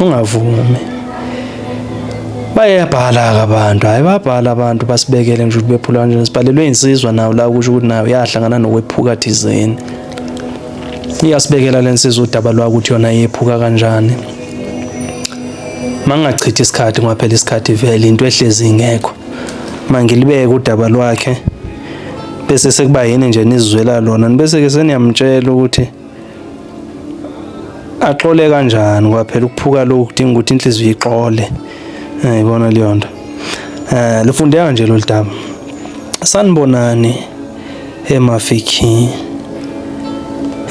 ungavumi bayabhala-ke abantu hhayi babhala abantu basibekele nje ukuthi bephula kanjani sibhalelwe insizwa nawo la kusho ukuthi nayo yahlangana nokwephuka thizeni iyasibekela le nsizwa udaba lwakuthi yona yephuka kanjani mangingachithi isikhathi kungaphela isikhathi vele into ehlezi ingekho mangilibeke udaba lwakhe bese sekuba yini nje nizizwela lona bese-ke seniyamtshela ukuthi axole kanjani ngoba phela ukuphuka lokhu kudinga ukuthi inhliziyo ixole ngiyibona eh, leyo nto eh lufundeka nje lolu daba sanibonani emafiki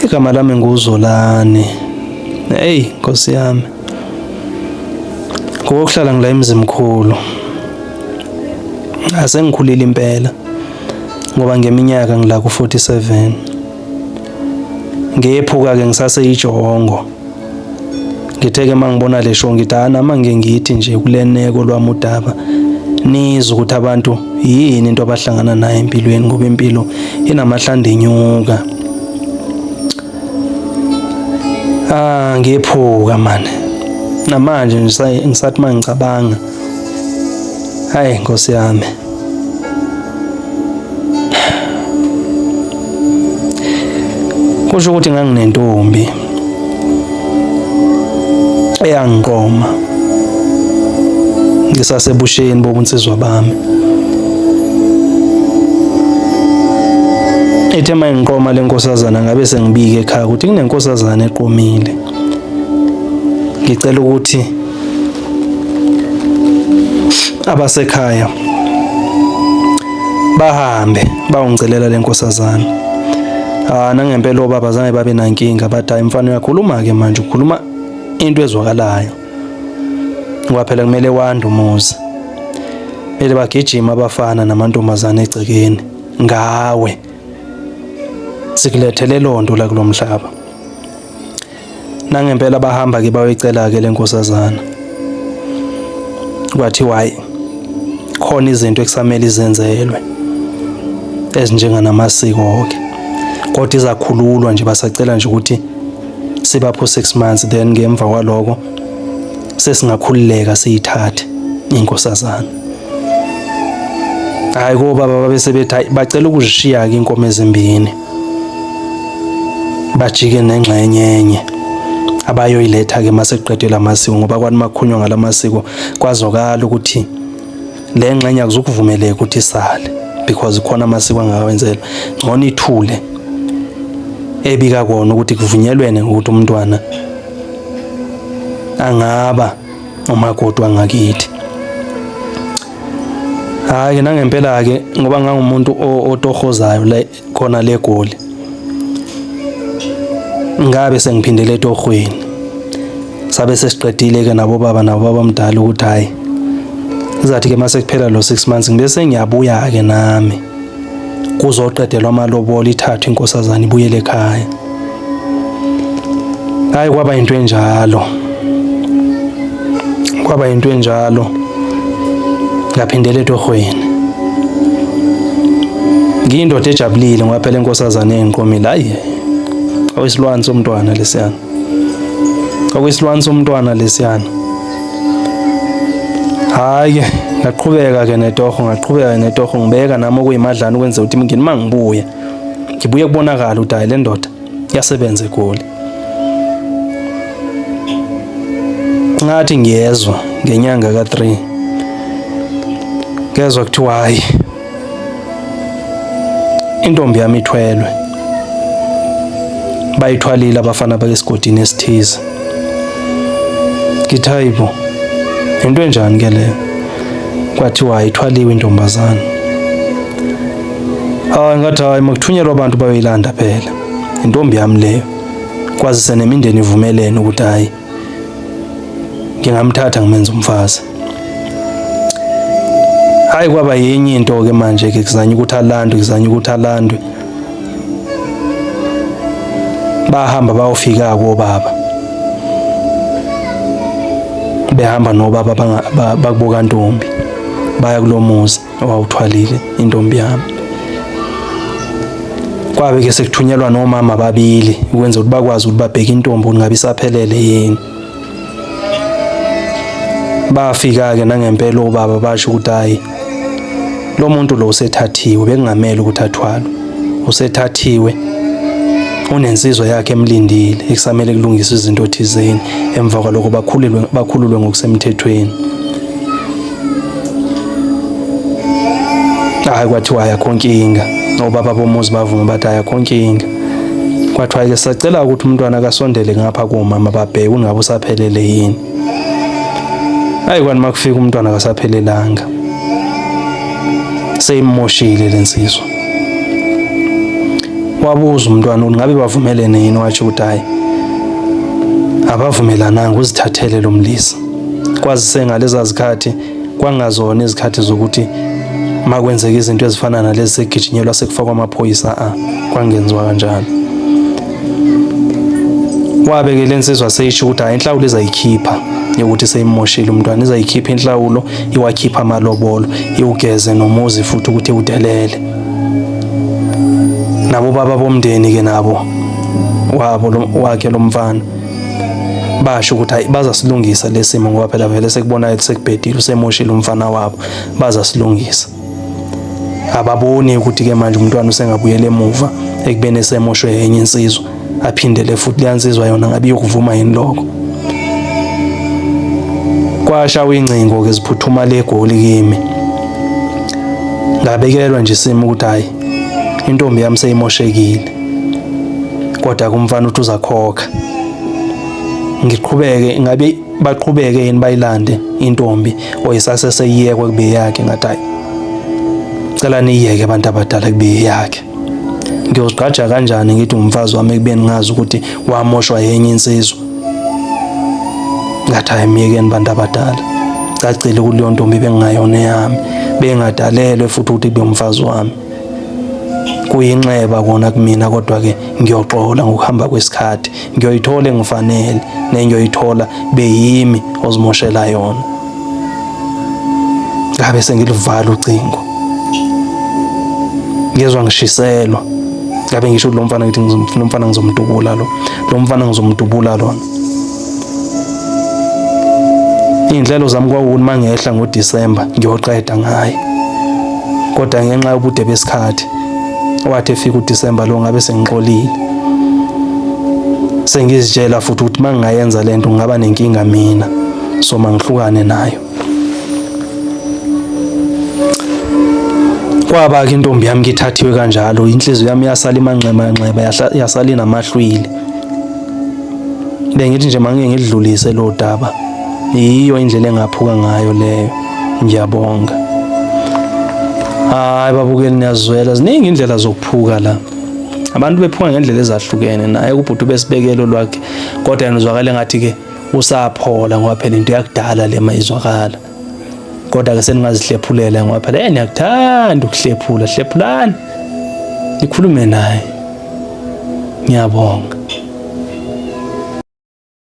igama lami nguzolani hey nkosi yami ngokuhlala ngila emzimkhulu asengikhulile impela ngoba ngeminyaka ngila ku 47 ngephuka ke ngisaseyijolongo ngitheke mangibona le show ngithi ana mange ngithi nje kuleneko lwami udaba nizwe ukuthi abantu yini into abahlangana nayo empilweni ngoba impilo inamahlande inyuka ah ngephuka manje namanje ngisathi mangicabanga Hayi Nkosi yami. Kusho ukuthi nganginentombi eyangiqoma ngisasebusheni bobunsizwa bami. Ethe uma ngiqoma le nkosazana ngabe sengibike ekhaya ukuthi kunenkosazana eqomile. Ngicela ukuthi abasekhaya bahambe bawungicelela lenkosazana ah nangempela obaba zange babe nankinga bathi hayi mfana uyakhuluma ke manje ukhuluma into ezwakalayo ngoba phela kumele wande umuzi ele bagijima abafana namantombazane egcekeni ngawe sikulethele lonto la kulomhlaba nangempela bahamba ke bayoyicela ke lenkosazana kwathi why khona izinto ekusamele izenzelwe ezinjenganamasiko ke kodwa izakhululwa nje basacela nje ukuthi sibapho 6 months then ngemva kwaloko sesingakhululeka siyithathe inkosazana hayi ko baba babe sebethi bacela ukuzishiya ke inkomo ezimbini bajike nengxenye enye abayoyiletha ke maseqedwe lamasiko ngoba kwani makhunywa ngalamasiko kwazokala ukuthi le ngxenye akuzukuvumeleka ukuthi isale because khona amasiko angawenzelwa ngcono ithule ebika kona ukuthi kuvunyelwene ukuthi umntwana angaba umakoti wangakithi Hayi ke nangempela ke ngoba ngangumuntu otohozayo le khona le goli. Ngabe sengiphindele etohweni. Sabe sesiqedile ke nabo baba nabo babamdala ukuthi hayi. Izathi ke mase kuphela lo 6 months ngibe sengiyabuya ke nami. kuzoqedelwa amalobolo ithathwe inkosazana ibuyele ekhaya hayi kwaba into enjalo kwaba into enjalo ngaphindela etohweni ngiyindoda ejabulile ngoba phela inkosazane engiqomile hayi owesilwane somntwana lesiyana okwesilwane somntwana lesiyana hayi ke ngaqhubeka ke netoho ngaqhubeka netoho ngibeka nami okuyimadlana ukwenza ukuthi imingeni uma ngibuya ngibuye kubonakala ukuthi hayi le ndoda yasebenza egoli ngathi ngiyezwa ngenyanga ka-3 ngezwa kuthiwa hayi intombi yami ithwelwe bayithwalile abafana bakesigodini esithize ngithi hayibo into enjani ke leyo kwathiwa ayithwaliwe intombazana hayi ngathi hayi makuthunyelwa abantu bayoyilanda phela intombi yami leyo kwazise nemindeni ivumelene ukuthi hayi ngingamthatha ngimenza umfazi hayi kwaba yenye into ke manje ke kuzanya ukuthi alandwe kuzanya ukuthi alandwe bahamba bayofika kobaba behamba nobaba bakuboka ntombi baya kulomuzi owawuthwalile intombi yami kwabe ke sekuthunyelwa nomama babili ukwenza ukuthi bakwazi ukuthi babheke intombi ukuthi ngabe isaphelele yini bafika ke nangempela obaba basho ukuthi hayi lo muntu lo usethathiwe bekungamele ukuthi athwalwe usethathiwe unensizwa yakhe emlindile ekusamele kulungiswe izinto thizeni emva kwaloko bakhululwe bakhululwe ngokusemthethweni hayi kwathiwa ayakho nkinga obaba bomuzi bavuma bathi ayakho nkinga kwathiwa ke sacela ukuthi umntwana akasondele ngapha kumama babheke ungabe usaphelele yini hayi kwani makufika umntwana akasaphelelanga seyimoshile lensizwa wabuza umntwana ukuthi ngabe bavumelene yini wathi ukuthi hayi abavumelananga uzithathele lo mlisa kwazise ngaleza zikhathi kwangazona izikhathi zokuthi makwenzeka izinto ezifana nalezi segijinyelwa sekufakwa amaphoyisa a kwangenziwa kanjalo wabeke le nsizwa seyisho ukuthi hayi inhlawulo izayikhipha yokuthi seyimoshile umntwana izayikhipha inhlawulo iwakhipha amalobolo iwugeze nomuzi futhi ukuthi udelele nabo baba bomndeni ke nabo wabo wakhe lomfana basho ukuthi hayi bazasilungisa lesimo ngoba phela vele sekubona sekubhedile usemoshile umfana wabo bazasilungisa ababoni ukuthi ke manje umntwana usengabuyela emuva ekubeni esemoshwe yenye insizwa aphindele futhi leyansizwa yona ngabe yokuvuma yini lokho kwasha ingcingo ke ziphuthuma legoli kimi ngabekelwa nje isimo ukuthi hayi intombi yami seyimoshekile kodwa kumfana uthi uzakhokha ngiqhubeke ngabe baqhubeke yini bayilande intombi oyisase seyiyekwe kube yakhe ngathi hayi cela niyeke abantu abadala kube yakhe ngiyozigqaja kanjani ngithi umfazi wami ekubeni ngazi ukuthi wamoshwa yenye insizwa ngathi hayi myekeni bantu abadala cacile ukuthi leyo ntombi bengingayona eyami bengadalelwe futhi ukuthi kube umfazi wami kuyinxeba kona kumina kodwa-ke ngiyoxola ngokuhamba kwesikhathi ngiyoyithola engifanele nengiyoyithola beyimi ozimoshela yona ngabe sengiluvala ucingo ngezwa ngishiselwa ngabe ngisho kulo mfana ngithi lo mfana ngizomdubula lo lo mfana ngizomdubula lona Izinhlelo zami kwawukuthi mangehla ngoDisemba ngiyoqeda ngaye. Kodwa ngenxa yobude besikhathi wathi efika uDisemba lo ngabe sengixolile. Sengizitshela futhi ukuthi mangingayenza lento ngaba nenkinga mina. So mangihlukane nayo. Kwaba ke intombi yami ngithathiwe kanjalo inhliziyo yami yasala imanxeba nxeba yasala inamahlwili. bengithi nje mangike ngidlulise lo daba yiyo indlela engaphuka ngayo leyo ngiyabonga hayi babukeli niyazwela ziningi indlela zokuphuka la abantu bephuka ngendlela ezahlukene naye kubhuti besibekelo lwakhe kodwa yena uzwakale ngathi ke usaphola ngoba phela into yakudala le mayizwakala kodwa ke seningazihlephulela ngoba phela yena uyakuthanda ukuhlephula hlephulani nikhulume naye ngiyabonga